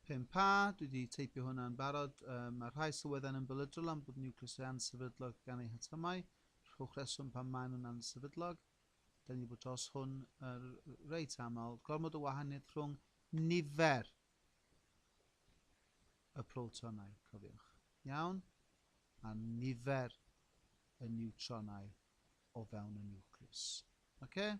Pump A, dwi 'di teipio hwnna yn barod. Um, mae rhai sylweddau'n ymbelydrol am bod niwcleusau ansefydlog gan eu hatomau, rhowch reswm pam maen nhw'n ansefydlog. Da ni wedi bod dros hwn uh, reit aml. Gormod o wahaniaeth rhwng nifer y protonau, cofiwch. Iawn? A nifer y niwtronau o fewn y niwclews. Oce? Okay?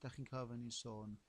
Da chi'n cael fy ni sôn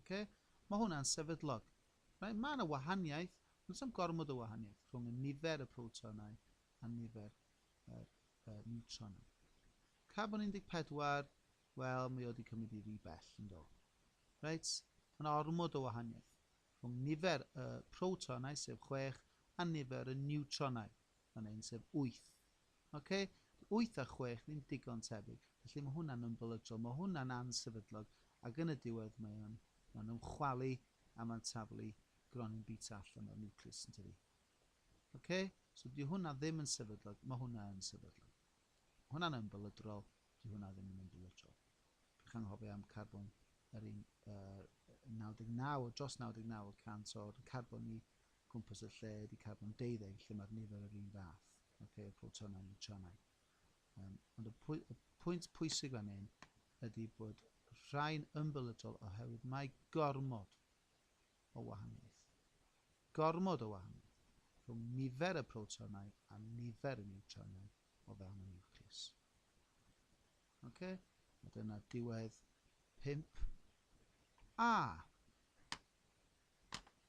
Ok, mae hwnna'n sefydlog. Reit, mae yna wahaniaeth, ond does dim gormod o wahaniaeth rhwng y nifer y protonau a nifer yr uh, niwtronau. Carbon 14, wel, mae o wedi cymryd i ry bell yn do. Reit, mae yna ormod o wahaniaeth rhwng nifer y protonau, sef 6, a nifer y niwtronau, Mae'n un sef wyth. Oce? Wyth a chwech ddim digon tebyg, felly mae hwnna'n ymbelydrol, mae hwnna'n ansefydlog, ac yn y diwedd mae o'n, mae'n ymchwalu a mae'n taflu gronyn bita allan o'r niwclews, yn tydi? Oce? So di hwnna ddim yn sefydlog, mae hwnna yn sefydlog. Mae hwnna'n ymbelydrol, di hwnna ddim yn ymbelydrol. Pech anghofio am carbon yr un, uh, 99, dros 99 y cant o'r carbon ni cwmpas y lle ydy carbon deuddeg lle mae'r nifer yr un fath, okay, y protonau, niwtronau. Um, ond y, pwy, y pwynt pwysig fan hyn ydy bod rhai'n ymbelydol oherwydd mae gormod o wahaniaeth. Gormod o wahaniaeth rhwng nifer y protonau a nifer y niwtronau o fewn y niwcleus. Okay? A dyna diwedd 5 a